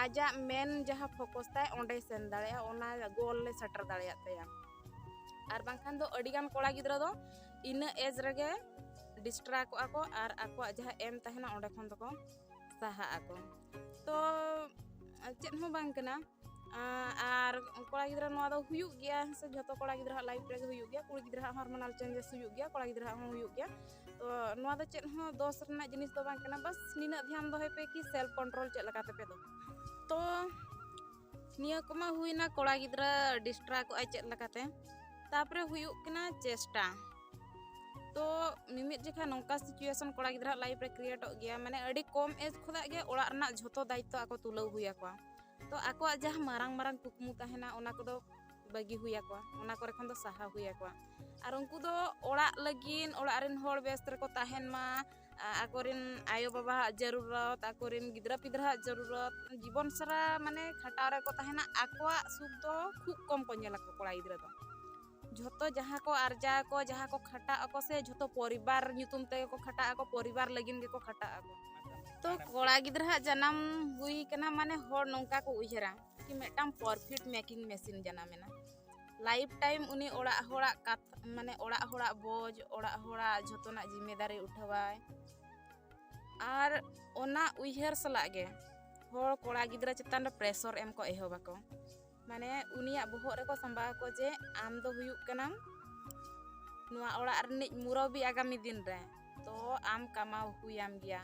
ᱟᱡᱟᱜ ᱢᱮᱱ ᱡᱟᱦᱟᱸ ᱯᱷᱳᱠᱚᱥ ᱛᱟᱭ ᱚᱸᱰᱮ ᱥᱮᱱ ᱫᱟᱲᱮᱭᱟᱜᱼᱟ ᱚᱱᱟ ᱜᱳᱞ ᱞᱮ ᱥᱮᱴᱮᱨ ᱫᱟᱲᱮᱭᱟᱜ ᱛᱟᱭᱟ ᱟᱨ ᱵᱟᱝᱠᱷᱟᱱ ᱫᱚ ᱟᱹᱰᱤᱜᱟᱱ ᱠᱚᱲᱟ ᱜᱤᱫᱽᱨᱟᱹ ᱫᱚ ᱤᱱᱟᱹ ᱮᱡᱽ ᱨᱮᱜᱮ ᱰᱤᱥᱴᱨᱟ ᱠᱚᱜᱼᱟ ᱠᱚ ᱟᱨ ᱟᱠᱚᱣᱟᱜ ᱡᱟᱦᱟᱸ ᱮᱢ ᱛᱟᱦᱮᱱᱟ ᱚᱸᱰᱮ ᱠᱷᱚᱱ ᱫᱚᱠᱚ ᱥᱟᱦᱟᱜ ᱟᱠᱚ ᱛᱚ ᱪᱮᱫ ᱦᱚᱸ ᱵᱟᱝ ᱠᱟᱱᱟ ᱟᱨ ᱠᱚᱲᱟ ᱜᱤᱫᱽᱨᱟᱹ ᱱᱚᱣᱟ ᱫᱚ ᱦᱩᱭᱩᱜ ᱜᱮᱭᱟ ᱥᱮ ᱡᱷᱚᱛᱚ ᱠᱚᱲᱟ ᱜᱤᱫᱽᱨᱟᱹ ᱦᱟᱜ ᱞᱟᱭᱤᱯᱷ ᱨᱮᱜᱮ ᱦᱩᱭᱩᱜ ᱜᱮᱭᱟ ᱠᱩᱲᱤ ᱜᱤᱫᱽᱨᱟᱹ ᱦᱟᱜ ᱦᱚᱨᱢᱚᱱᱟᱞ ᱪᱮᱧᱡᱮᱥ ᱦᱩᱭᱩᱜ ᱜᱮᱭᱟ ᱠᱚᱲᱟ ᱜᱤᱫᱽᱨᱟᱹ ᱦᱚᱸ ᱦᱩᱭᱩᱜ ᱜᱮᱭᱟ ᱛᱚ ᱱᱚᱣᱟ ᱫᱚ ᱪᱮᱫ ᱦᱚᱸ ᱫᱚᱥ ᱨᱮᱱᱟᱜ ᱡᱤᱱᱤᱥ ᱫᱚ ᱵᱟᱝ ᱠᱟᱱᱟ ᱵᱟᱥ ᱱᱤᱱᱟᱹᱜ ᱫᱷᱮᱭᱟᱱ ᱫᱚᱦᱚᱭ ᱯᱮ ᱠᱤ ᱥᱮᱞᱯ ᱠᱚᱱᱴᱨᱳᱞ ᱪᱮᱫ ᱞᱮᱠᱟ ᱛᱮᱯᱮ ᱫᱚ ᱛᱚ ᱱᱤᱭᱟᱹ ᱠᱚᱢᱟ ᱦᱩᱭᱱᱟ ᱠᱚᱲᱟ ᱜᱤᱫᱽᱨᱟᱹ ᱰᱤᱥᱴᱨᱟ ᱠᱚᱜᱼᱟᱭ ᱪᱮᱫ ᱞᱮᱠᱟᱛᱮ ᱛᱟᱯᱚᱨᱮ ᱦᱩᱭᱩᱜ ᱠᱟᱱᱟ ᱪᱮᱥᱴᱟ ᱛᱚ ᱢᱤᱢᱤᱫ ᱡᱚᱠᱷᱟ ᱱᱚᱝᱠᱟ ᱥᱤᱪᱩᱭᱮᱥᱚᱱ ᱠᱚᱲᱟ ᱜᱤᱫᱽᱨᱟᱹ ᱞᱟᱭᱤᱯᱷ ᱨᱮ ᱠᱨᱤᱭᱮᱴᱚᱜ ᱜᱮᱭᱟ ᱢᱟᱱᱮ ᱟᱹᱰᱤ ᱠᱚᱢ ᱮᱡᱽ ᱠᱷᱚᱱᱟᱜ ᱜᱮ ᱚᱲᱟᱜ ᱨᱮᱱᱟᱜ ᱡᱷᱚᱛᱚ ᱫᱟᱭᱤᱛᱛᱚ ᱟᱠᱚ ᱛᱩᱞᱟᱹᱣ ᱦᱩᱭ ᱟᱠᱚᱣᱟ ᱛᱚ ᱟᱠᱚᱣᱟᱜ ᱡᱟᱦᱟᱸ ᱢᱟᱨᱟᱝ ᱢᱟᱨᱟᱝ ᱠᱩᱠᱢᱩ ᱛᱟᱦᱮᱱᱟ ᱚᱱᱟ ᱠᱚᱫᱚ ᱵᱟᱹᱜᱤ ᱦᱩᱭ ᱟᱠᱚᱣᱟ ᱚᱱᱟ ᱠᱚᱨᱮ ᱠᱷᱚᱱ ᱫᱚ ᱥᱟᱦᱟ ᱦᱩᱭ ᱟᱠᱚᱣᱟ ᱟᱨ ᱩᱱᱠᱩ ᱫᱚ ᱚᱲᱟᱜ ᱞᱟᱹᱜᱤᱫ ᱚᱲᱟᱜ ᱨᱮᱱ ᱦᱚᱲ ᱵᱮᱥ ᱨᱮᱠᱚ ᱛᱟᱦᱮᱱ ᱢᱟ ᱟᱠᱚᱨᱮᱱ ᱟᱭᱳ ᱵᱟᱵᱟᱣᱟᱜ ᱡᱟᱹᱨᱩᱨᱚᱛ ᱟᱠᱚᱨᱮᱱ ᱜᱤᱫᱽᱨᱟᱹ ᱯᱤᱫᱽᱨᱟᱹᱣᱟᱜ ᱡᱟᱹᱨᱩᱨᱚᱛ ᱡᱤᱵᱚᱱ ᱥᱟᱨᱟ ᱢᱟᱱᱮ ᱠᱷᱟᱴᱟᱣ ᱨᱮᱠᱚ ᱛᱟᱦᱮᱱᱟ ᱟᱠᱚᱣᱟᱜ ᱥᱩᱠ ᱫᱚ ᱠᱷᱩᱵ ᱠᱚᱢ ᱠᱚ ᱧᱮᱞᱟ ᱠᱚᱲᱟ ᱜᱤᱫᱽᱨᱟᱹ ᱫᱚ ᱡᱷᱚᱛᱚ ᱡᱟᱦᱟᱸ ᱠᱚ ᱟᱨᱡᱟᱣ ᱟᱠᱚ ᱡᱟᱦᱟᱸ ᱠᱚ ᱠᱷᱟᱴᱟᱜ ᱟᱠᱚ ᱥᱮ ᱡᱷᱚᱛᱚ ᱯᱚᱨᱤᱵᱟᱨ ᱧᱩᱛᱩᱢ ᱛᱮᱜᱮ ᱠᱚ ᱠᱷᱟᱴᱟᱜ ᱟᱠᱚ ᱯᱚᱨᱤᱵᱟᱨ ᱞᱟᱹᱜᱤᱫ ᱜᱮᱠᱚ ᱠᱷᱟᱴᱟᱜ ᱟᱠᱚ ᱛᱚ ᱠᱚᱲᱟ ᱜᱤᱫᱽᱨᱟᱹᱣᱟᱜ ᱡᱟᱱᱟᱢ ᱦᱩᱭ ᱠᱟᱱᱟ ᱢᱟᱱᱮ ᱦᱚᱲ ᱱᱚᱝᱠᱟ ᱠᱚ ᱩᱭᱦᱟᱹᱨᱟ ᱠᱤ ᱢᱤᱫᱴᱟᱝ ᱯᱨᱚᱯᱷᱤᱴ ᱢᱮᱠᱤᱝ ᱢᱮᱥᱤᱱ ᱡᱟᱱᱟᱢᱮᱱᱟ ᱞᱟᱭᱤᱯᱷ ᱴᱟᱭᱤᱢ ᱩᱱᱤ ᱚᱲᱟᱜ ᱦᱚᱲᱟᱜ ᱠᱟᱛᱷᱟ ᱢᱟᱱᱮ ᱚᱲᱟᱜ ᱦᱚᱲᱟᱜ ᱵᱚᱡᱽ ᱚᱲᱟᱜ ᱦᱚᱲᱟᱜ ᱡᱷᱚᱛᱚᱱᱟᱜ ᱡᱤᱢᱮᱫᱟᱨᱤ ᱩᱴᱷᱟᱹᱣᱟᱭ ᱟᱨ ᱚᱱᱟ ᱩᱭᱦᱟᱹᱨ ᱥᱟᱞᱟᱜ ᱜᱮ ᱦᱚᱲ ᱠᱚᱲᱟ ᱜᱤᱫᱽᱨᱟᱹ ᱪᱮᱛᱟᱱ ᱨᱮ ᱯᱨᱮᱥᱚᱨ ᱮᱢ ᱠᱚ ᱮᱦᱚᱵ ᱟᱠᱚ ᱢᱟᱱᱮ ᱩᱱᱤᱭᱟᱜ ᱵᱚᱦᱚᱜ ᱨᱮᱠᱚ ᱥᱟᱢᱵᱟᱣ ᱟᱠᱚ ᱡᱮ ᱟᱢ ᱫᱚ ᱦᱩᱭᱩᱜ ᱠᱟᱱᱟᱢ ᱱᱚᱣᱟ ᱚᱲᱟᱜ ᱨᱤᱱᱤᱡ ᱢᱩᱨᱚᱵᱤ ᱟᱜᱟᱢᱤ ᱫᱤᱱ ᱨᱮ ᱛᱚ ᱟᱢ ᱠᱟᱢᱟᱣ ᱦᱩᱭᱟᱢ ᱜᱮᱭᱟ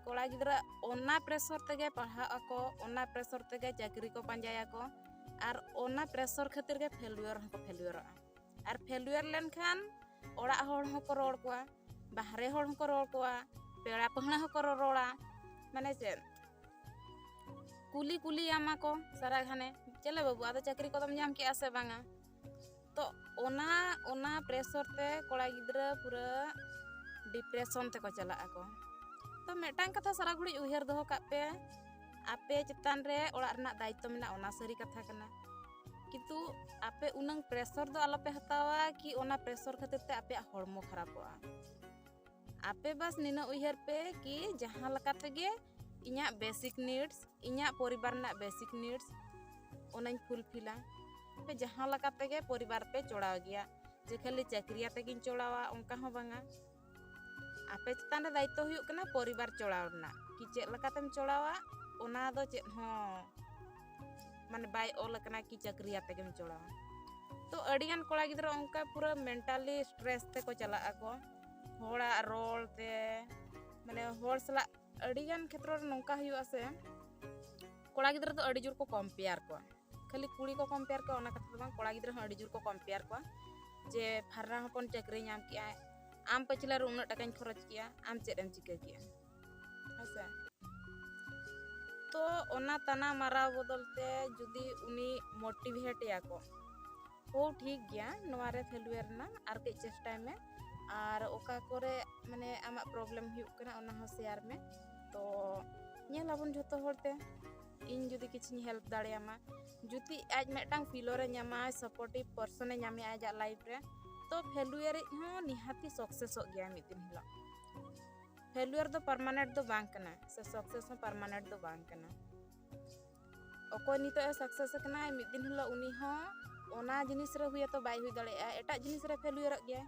ᱠᱚᱲᱟ ᱜᱤᱫᱽᱨᱟᱹ ᱚᱱᱟ ᱯᱨᱮᱥᱚᱨ ᱛᱮᱜᱮ ᱯᱟᱲᱦᱟᱜ ᱟᱠᱚ ᱚᱱᱟ ᱯᱨᱮᱥᱚᱨ ᱛᱮᱜᱮ ᱪᱟᱹᱠᱨᱤ ᱠᱚ ᱯᱟᱸᱡᱟᱭᱟᱠᱚ ᱟᱨ ᱚᱱᱟ ᱯᱨᱮᱥᱚᱨ ᱠᱷᱟᱹᱛᱤᱨ ᱜᱮ ᱯᱷᱮᱞᱩᱭᱚᱨ ᱦᱚᱸᱠᱚ ᱯᱷᱮᱞᱩᱭᱚᱨᱚᱜᱼᱟ ᱟᱨ ᱯᱷᱮᱞᱩᱭᱚᱨ ᱞᱮᱱᱠᱷᱟᱱ ᱚᱲᱟᱜ ᱦᱚᱲ ᱦᱚᱸᱠᱚ ᱨᱚᱲ ᱠᱚᱣᱟ ᱵᱟᱦᱨᱮ ᱦᱚᱲ ᱦᱚᱸᱠᱚ ᱨᱚᱲ ᱠᱚᱣᱟ ᱯᱮᱲᱟ ᱯᱟᱹᱦᱲᱟᱹ ᱦᱚᱸᱠᱚ ᱨᱚᱲᱟ ᱢᱟᱱᱮ ᱪᱮᱫ ᱠᱩᱞᱤ ᱠᱩᱞᱤᱭᱟᱢᱟ ᱠᱚ ᱥᱟᱨᱟ ᱜᱷᱟᱱᱮ ᱪᱮᱞᱮ ᱵᱟᱹᱵᱩ ᱟᱫᱚ ᱪᱟᱹᱠᱨᱤ ᱠᱚᱫᱚᱢ ᱧᱟᱢ ᱠᱮᱜᱼᱟ ᱥᱮ ᱵᱟᱝᱟ ᱛᱚ ᱚᱱᱟ ᱚᱱᱟ ᱯᱨᱮᱥᱚᱨ ᱛᱮ ᱠᱚᱲᱟ ᱜᱤᱫᱽᱨᱟᱹ ᱯᱩᱨᱟᱹ ᱰᱤᱯᱨᱮᱥᱚᱱ ᱛᱮᱠᱚ ᱪᱟᱞᱟᱜ ᱟᱠᱚ ᱛᱚ ᱢᱤᱫᱴᱟᱝ ᱠᱟᱛᱷᱟ ᱥᱟᱨᱟ ᱜᱷᱩᱲᱤᱡ ᱩᱭᱦᱟᱹᱨ ᱫᱚᱦᱚ ᱠᱟᱜ ᱯᱮ ᱟᱯᱮ ᱪᱮᱛᱟᱱ ᱨᱮ ᱚᱲᱟᱜ ᱨᱮᱱᱟᱜ ᱫᱟᱭᱤᱛᱛᱚ ᱢᱮᱱᱟᱜᱼᱟ ᱚᱱᱟ ᱥᱟᱹᱨᱤ ᱠᱟᱛᱷᱟ ᱠᱟᱱᱟ ᱠᱤᱱᱛᱩ ᱟᱯᱮ ᱩᱱᱟᱹᱝ ᱯᱨᱮᱥᱚᱨ ᱫᱚ ᱟᱞᱚᱯᱮ ᱦᱟᱛᱟᱣᱟ ᱠᱤ ᱚᱱᱟ ᱯᱨᱮᱥᱚᱨ ᱠᱷᱟᱹᱛᱤᱨ ᱛᱮ ᱟᱯᱮᱭᱟᱜ ᱦᱚᱲᱢᱚ ᱠᱷᱟᱨᱟᱯᱚᱜᱼᱟ ᱟᱯᱮ ᱵᱟᱥ ᱱᱤᱱᱟᱹᱜ ᱩᱭᱦᱟᱹᱨ ᱯᱮ ᱠᱤ ᱡᱟᱦᱟᱸ ᱞᱮᱠᱟ ᱛᱮᱜᱮ ᱤᱧᱟᱹᱜ ᱵᱮᱥᱤᱠ ᱱᱤᱰᱥ ᱤᱧᱟᱹᱜ ᱯᱚᱨᱤᱵᱟᱨ ᱨᱮᱱᱟᱜ ᱵᱮᱥᱤᱠ ᱱᱤᱰᱥ ᱚᱱᱟᱧ ᱯᱷᱩᱞᱯᱷᱤᱞᱟ ᱯᱮ ᱡᱟᱦᱟᱸ ᱞᱮᱠᱟ ᱛᱮᱜᱮ ᱯᱚᱨᱤᱵᱟᱨ ᱯᱮ ᱪᱚᱲᱟᱣ ᱜᱮᱭᱟ ᱡᱮ ᱠᱷᱟᱹᱞᱤ ᱪᱟᱹᱠᱨᱤ ᱟᱛᱮᱜᱤᱧ ᱪᱚᱲᱟᱣᱟ ᱚᱱᱠᱟ ᱦᱚᱸ ᱵᱟᱝᱟ ᱟᱯᱮ ᱪᱮᱛᱟᱱ ᱨᱮ ᱫᱟᱭᱤᱛᱛᱚ ᱦᱩᱭᱩᱜ ᱠᱟᱱᱟ ᱯᱚᱨᱤᱵᱟᱨ ᱪᱚᱲᱟᱣ ᱨᱮᱱᱟᱜ ᱠᱤ ᱪᱮᱫ ᱞᱮᱠᱟᱛᱮᱢ ᱪᱚᱲᱟᱣᱟ ᱚᱱᱟ ᱫᱚ ᱪᱮᱫ ᱦᱚᱸ ᱢᱟᱱᱮ ᱵᱟᱭ ᱚᱞ ᱟᱠᱟᱱᱟ ᱠᱤ ᱪᱟᱹᱠᱨᱤ ᱟᱛᱮᱜᱮᱢ ᱪᱚᱲᱟᱣᱟ ᱛᱚ ᱟᱹᱰᱤᱜᱟᱱ ᱠᱚᱲᱟ ᱜᱤᱫᱽᱨᱟᱹ ᱚᱱᱠᱟ ᱯᱩᱨᱟᱹ ᱢᱮᱱᱴᱟᱞᱤ ᱥᱴᱨᱮᱥ ᱛᱮᱠᱚ ᱪᱟᱞᱟᱜ ᱟᱠᱚ ᱦᱚᱲᱟᱜ ᱨᱚᱲ ᱛᱮ ᱢᱟᱱᱮ ᱦᱚᱲ ᱥᱟᱞᱟᱜ ᱟᱹᱰᱤ ᱜᱟᱱ ᱠᱷᱮᱛᱨᱚ ᱨᱮ ᱱᱚᱝᱠᱟ ᱦᱩᱭᱩᱜᱼᱟ ᱥᱮ ᱠᱚᱲᱟ ᱜᱤᱫᱽᱨᱟᱹ ᱫᱚ ᱟᱹᱰᱤ ᱡᱳᱨ ᱠᱚ ᱠᱚᱢᱯᱮᱭᱟᱨ ᱠᱚᱣᱟ ᱠᱷᱟᱹᱞᱤ ᱠᱩᱲᱤ ᱠᱚ ᱠᱚᱢᱯᱮᱭᱟᱨ ᱠᱚᱣᱟ ᱚᱱᱟ ᱠᱟᱛᱷᱟ ᱫᱚ ᱵᱟᱝ ᱠᱚᱲᱟ ᱜᱤᱫᱽᱨᱟᱹ ᱦᱚᱸ ᱟᱹᱰᱤ ᱡᱳᱨ ᱠᱚ ᱠᱚᱢᱯᱮᱭᱟᱨ ᱠᱚᱣᱟ ᱡᱮ ᱯᱷᱟᱨᱱᱟ ᱦᱚᱯᱚᱱ ᱪᱟᱹᱠᱨᱤ ᱧᱟᱢ ᱠᱮᱜᱼᱟᱭ ᱟᱢ ᱯᱟᱹᱪᱷᱞᱟ ᱨᱮ ᱩᱱᱟᱹᱜ ᱴᱟᱠᱟᱧ ᱠᱷᱚᱨᱚᱪ ᱠᱮᱜᱼᱟ ᱟᱢ ᱪᱮᱫ ᱮᱢ ᱪᱤᱠᱟᱹ ᱠᱮᱜᱼᱟ ᱦᱮᱸ ᱥᱮ ᱛᱚ ᱚᱱᱟ ᱛᱟᱱᱟ ᱢᱟᱨᱟᱣ ᱵᱚᱫᱚᱞ ᱛᱮ ᱡᱩᱫᱤ ᱩᱱᱤ ᱢᱳᱴᱤᱵᱷᱮᱴ ᱮᱭᱟ ᱠᱚ ᱦᱳ ᱴᱷᱤᱠ ᱜᱮᱭᱟ ᱱᱚᱣᱟ ᱨᱮ ᱯᱷᱮᱞᱩᱭᱟᱨ ᱮᱱᱟ ᱟᱨ ᱠᱟᱹᱡ ᱪᱮᱥᱴᱟᱭ ᱢᱮ ᱟᱨ ᱚᱠᱟ ᱠᱚᱨᱮ ᱢᱟᱱᱮ ᱟᱢᱟᱜ ᱯᱨᱚᱵᱞᱮᱢ ᱦᱩᱭᱩᱜ ᱠᱟᱱᱟ ᱚᱱᱟ ᱦᱚᱸ ᱥᱮᱭᱟᱨ ᱢᱮ ᱛᱚ ᱧᱮᱞ ᱟᱵᱚᱱ ᱡᱷᱚᱛᱚ ᱦᱚᱲ ᱛᱮ ᱤᱧ ᱡᱩᱫᱤ ᱠᱤᱪᱷᱤᱧ ᱦᱮᱞᱯ ᱫᱟᱲᱮᱭᱟᱢᱟ ᱡᱩᱫᱤ ᱟᱡ ᱢᱤᱫᱴᱟᱝ ᱯᱷᱤᱞᱚᱨ ᱮ ᱧᱟᱢᱟ ᱥᱟᱯᱳᱨᱴᱤᱵᱷ ᱯᱟᱨᱥᱚᱱ ᱮ ᱧᱟᱢᱮ ᱟᱡᱟᱜ ᱞᱟᱭᱤᱯᱷ ᱨᱮ ᱛᱚ ᱯᱷᱮᱞᱩᱭᱟᱨ ᱤᱡ ᱦᱚᱸ ᱱᱤᱦᱟᱹᱛᱤ ᱥᱚᱠᱥᱮᱥᱚᱜ ᱜᱮᱭᱟ ᱢᱤᱫ ᱫᱤᱱ ᱦᱤᱞᱳᱜ ᱯᱷᱮᱞᱩᱭᱟᱨ ᱫᱚ ᱯᱟᱨᱢᱟᱱᱮᱱᱴ ᱫᱚ ᱵᱟᱝ ᱠᱟᱱᱟ ᱥᱮ ᱥᱚᱠᱥᱮᱥ ᱦᱚᱸ ᱯᱟᱨᱢᱟᱱᱮᱱᱴ ᱫᱚ ᱵᱟᱝ ᱠᱟᱱᱟ ᱚᱠᱚᱭ ᱱᱤᱛᱚᱜ ᱮ ᱥᱟᱠᱥᱮᱥ ᱟᱠᱟᱱᱟᱭ ᱢᱤᱫ ᱫᱤᱱ ᱦᱤᱞᱳᱜ ᱩᱱᱤ ᱦᱚᱸ ᱚᱱᱟ ᱡᱤᱱᱤᱥ ᱨᱮ ᱦᱩᱭᱟᱛᱚ ᱵᱟᱭ ᱦᱩᱭ ᱫᱟᱲᱮᱭᱟᱜᱼᱟ ᱮᱴᱟᱜ ᱡᱤᱱᱤᱥ ᱨᱮ ᱯᱷᱮᱞᱩᱭᱟᱨᱚᱜ ᱜᱮᱭᱟᱭ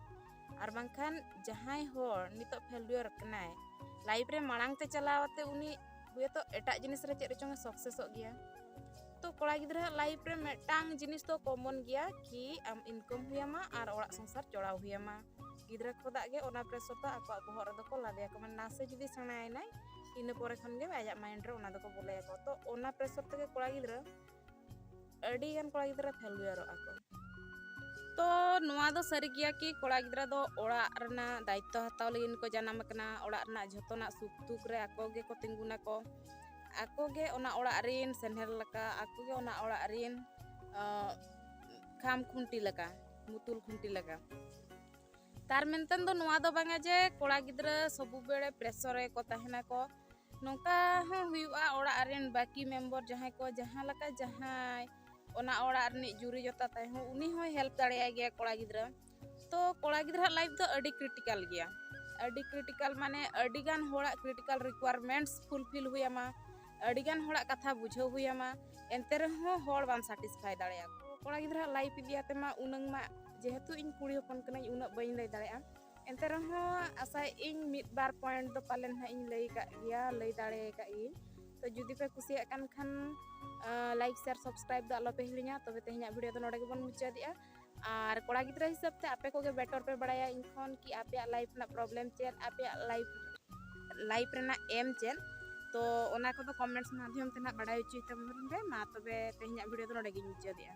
ᱟᱨ ᱵᱟᱝᱠᱷᱟᱱ ᱡᱟᱦᱟᱸᱭ ᱦᱚᱲ ᱱᱤᱛᱚᱜ ᱯᱷᱮᱞᱩᱭᱟᱨ ᱠᱟᱱᱟᱭ ᱞᱟᱭᱤᱯᱷ ᱨᱮ ᱢᱟᱲᱟᱝ ᱛᱮ ᱪᱟᱞᱟᱣ ᱟᱛᱮ ᱩᱱᱤ ᱦᱩᱭᱟᱛᱚ ᱮᱴᱟᱜ ᱡᱤᱱᱤᱥ ᱨᱮ ᱪᱮᱫ ᱨᱮᱪᱚᱝ ᱮ ᱥᱟᱠᱥᱮᱥᱚᱜ ᱜᱮᱭᱟ ᱛᱚ ᱠᱚᱲᱟ ᱜᱤᱫᱽᱨᱟᱹ ᱞᱟᱭᱤᱯᱷ ᱨᱮ ᱢᱤᱫᱴᱟᱝ ᱡᱤᱱᱤᱥ ᱫᱚ ᱠᱚᱢᱚᱱ ᱜᱮᱭᱟ ᱠᱤ ᱟᱢ ᱤᱱᱠᱟᱢ ᱦᱩᱭᱟᱢᱟ ᱟᱨ ᱚᱲᱟᱜ ᱥᱚᱝᱥᱟᱨ ᱪᱚᱲᱟᱣ ᱦᱩᱭᱟᱢᱟ ᱜᱤᱫᱽᱨᱟᱹ ᱠᱷᱚᱫᱟᱜ ᱜᱮ ᱚᱱᱟ ᱯᱨᱮᱥᱚᱨ ᱫᱚ ᱟᱠᱚᱣᱟᱜ ᱵᱚᱦᱚᱜ ᱨᱮᱫᱚ ᱠᱚ ᱞᱟᱫᱮᱭᱟᱠᱚ ᱢᱟᱱᱮ ᱱᱟᱥᱮ ᱡᱩᱫᱤ ᱥᱮᱬᱟᱭᱮᱱᱟᱭ ᱤᱱᱟᱹ ᱯᱚᱨᱮ ᱠᱷᱚᱱ ᱜᱮ ᱟᱭᱟᱜ ᱢᱟᱭᱤᱱᱰ ᱨᱮ ᱚᱱᱟ ᱫᱚᱠᱚ ᱵᱚᱞᱚᱭᱟᱠᱚ ᱛᱚ ᱚᱱᱟ ᱯᱨᱮᱥᱚᱨ ᱛᱮᱜᱮ ᱠᱚᱲᱟ ᱜᱤᱫᱽᱨᱟᱹ ᱟᱹᱰᱤ ᱜᱟᱱ ᱠᱚᱲᱟ ᱜᱤᱫᱽᱨᱟᱹ ᱯᱷᱮᱞᱩᱭᱟᱨᱚᱜᱼᱟ ᱠᱚ ᱛᱚ ᱱᱚᱣᱟ ᱫᱚ ᱥᱟᱹᱨᱤ ᱜᱮᱭᱟ ᱠᱤ ᱠᱚᱲᱟ ᱜᱤᱫᱽᱨᱟᱹ ᱫᱚ ᱚᱲᱟᱜ ᱨᱮᱱᱟᱜ ᱫᱟᱭᱤᱛᱛᱚ ᱦᱟᱛᱟᱣ ᱞᱟᱹᱜᱤᱫ ᱠᱚ ᱡᱟᱱᱟᱢ ᱟᱠᱟᱱᱟ ᱚᱲᱟᱜ ᱨᱮᱱᱟᱜ ᱡᱷᱚᱛᱚᱱᱟᱜ ᱥᱩᱠ ᱫᱩᱠ ᱨᱮ ᱟᱠᱚ ᱜᱮᱠᱚ ᱛᱤᱸᱜᱩᱱᱟᱠᱚ ᱟᱠᱚ ᱜᱮ ᱚᱱᱟ ᱚᱲᱟᱜ ᱨᱤᱱ ᱥᱮᱱᱦᱮᱨ ᱞᱮᱠᱟ ᱟᱠᱚ ᱜᱮ ᱚᱱᱟ ᱚᱲᱟᱜ ᱨᱤᱱ ᱠᱷᱟᱢ ᱠᱷᱩᱱᱴᱤ ᱞᱮᱠᱟ ᱢᱩᱛᱩᱞ ᱠᱷᱩᱱᱴᱤ ᱞᱮᱠᱟ ᱛᱟᱨ ᱢᱮᱱᱛᱮ ᱫᱚ ᱱᱚᱣᱟ ᱫᱚ ᱵᱟᱝᱟ ᱡᱮ ᱠᱚᱲᱟ ᱜᱤᱫᱽᱨᱟᱹ ᱥᱚᱵᱩ ᱵᱮᱲᱮ ᱯᱨᱮᱥᱚᱨ ᱨᱮᱠᱚ ᱛᱟᱦᱮᱱᱟ ᱠᱚ ᱱᱚᱝᱠᱟ ᱦᱚᱸ ᱦᱩᱭᱩᱜᱼᱟ ᱚᱲᱟᱜ ᱨᱮᱱ ᱵᱟᱹᱠᱤ ᱢᱮᱢᱵᱚᱨ ᱡᱟᱦᱟᱸᱭ ᱠᱚ ᱡᱟᱦᱟᱸ ᱞᱮᱠᱟ ᱡᱟᱦᱟᱸᱭ ᱚᱱᱟ ᱚᱲᱟᱜ ᱨᱤᱱᱤᱡ ᱡᱩᱨᱤ ᱡᱚᱛᱟ ᱛᱟᱭ ᱦᱚᱸ ᱩᱱᱤ ᱦᱚᱸᱭ ᱦᱮᱞᱯ ᱫᱟᱲᱮᱭᱟᱭ ᱜᱮᱭᱟ ᱠᱚᱲᱟ ᱜᱤᱫᱽᱨᱟᱹ ᱛᱚ ᱠᱚᱲᱟ ᱜᱤᱫᱽᱨᱟᱹ ᱞᱟᱭᱤᱯ ᱫᱚ ᱟᱹᱰᱤ ᱠᱨᱤᱴᱤᱠᱟᱞ ᱜᱮᱭᱟ ᱟᱹᱰᱤ ᱠᱨᱤᱴᱤᱠᱟᱞ ᱢᱟᱱᱮ ᱟᱹᱰᱤ ᱜᱟᱱ ᱦᱚᱲᱟᱜ ᱠᱨᱤᱴᱤᱠᱟᱞ ᱨᱤᱠᱩᱭᱟᱨᱢᱮᱱᱴᱥ ᱯᱷᱩᱞᱯᱷᱤᱞ ᱦᱩᱭᱟᱢᱟ ᱟᱹᱰᱤ ᱜᱟᱱ ᱦᱚᱲᱟᱜ ᱠᱟᱛᱷᱟ ᱵᱩᱡᱷᱟᱹᱣ ᱦᱩᱭ ᱟᱢᱟ ᱮᱱᱛᱮ ᱨᱮᱦᱚᱸ ᱦᱚᱲ ᱵᱟᱢ ᱥᱟᱴᱤᱥᱯᱷᱟᱭ ᱫᱟᱲᱮᱭᱟ ᱠᱚᱲᱟ ᱜᱤᱫᱽᱨᱟᱹ ᱞᱟᱭᱤᱯ ᱤᱫᱤ ᱟᱛᱮ ᱢᱟ ᱩᱱᱟᱹᱝ ᱢᱟ ᱡᱮᱦᱮᱛᱩ ᱤᱧ ᱠᱩᱲᱤ ᱦᱚᱯᱚᱱ ᱠᱟᱹᱱᱟᱹᱧ ᱩᱱᱟᱹᱜ ᱵᱟᱹᱧ ᱞᱟᱹᱭ ᱫᱟᱲᱮᱭᱟᱜᱼᱟ ᱮᱱᱛᱮ ᱨᱮᱦᱚᱸ ᱟᱥᱟᱭ ᱤᱧ ᱢᱤᱫ ᱵᱟᱨ ᱯᱚᱭᱮᱱᱴ ᱫᱚ ᱯᱟᱞᱮᱱ ᱦᱟᱸᱜ ᱤᱧ ᱞᱟᱹᱭ ᱠᱟᱜ ᱜᱮᱭᱟ ᱞᱟᱹᱭ ᱫᱟᱲᱮ ᱠᱟᱜ ᱜᱤᱭᱟᱹᱧ ᱛᱚ ᱡᱩᱫᱤ ᱯᱮ ᱠᱩᱥᱤᱭᱟᱜ ᱠᱟᱱ ᱠᱷᱟᱱ ᱞᱟᱭᱤᱠ ᱥᱮᱭᱟᱨ ᱥᱟᱵᱥᱠᱨᱟᱭᱤᱵ ᱫᱚ ᱟᱞᱚᱯᱮ ᱦᱤᱲᱤᱧᱟ ᱛᱚᱵᱮ ᱛᱮᱦᱮᱧᱟᱜ ᱵᱷᱤᱰᱤᱭᱳ ᱫᱚ ᱱᱚᱰᱮ ᱜᱮᱵᱚᱱ ᱢᱩᱪᱟᱹᱫᱮᱜᱼᱟ ᱟᱨ ᱠᱚᱲᱟ ᱜᱤᱫᱽᱨᱟᱹ ᱦᱤᱥᱟᱹᱵ ᱛᱮ ᱟᱯᱮ ᱠᱚᱜᱮ ᱵᱮᱴᱚᱨ ᱯᱮ ᱵᱟᱲᱟᱭᱟ ᱤᱧ ᱠᱷᱚᱱ ᱠᱤ ᱟᱯᱮᱭᱟᱜ ᱞᱟᱭᱤᱯᱷ ᱨᱮᱱᱟᱜ ᱯᱨᱚᱵᱞᱮᱢ ᱪᱮᱫ ᱟᱯᱮᱭᱟᱜ ᱞᱟᱭᱤᱯᱷ ᱞᱟᱭᱤᱯᱷ ᱨᱮᱱᱟᱜ ᱮᱢ ᱪᱮᱫ ᱛᱚ ᱚᱱᱟ ᱠᱚᱫᱚ ᱠᱚᱢᱮᱱᱴᱥ ᱢᱟᱫᱽᱫᱷᱚᱢ ᱛᱮ ᱱᱟᱜ ᱵᱟᱲᱟᱭ ᱦᱚᱪᱚᱭ ᱛᱟᱵᱚᱱ ᱯᱮ ᱢᱟ ᱛᱚᱵᱮ ᱛᱮᱦᱮᱧᱟᱜ ᱵᱷᱤᱰᱤᱭᱳ ᱫᱚ ᱱᱚᱰᱮ ᱜᱤᱧ ᱢᱩᱪᱟᱹᱫᱮᱜᱼᱟ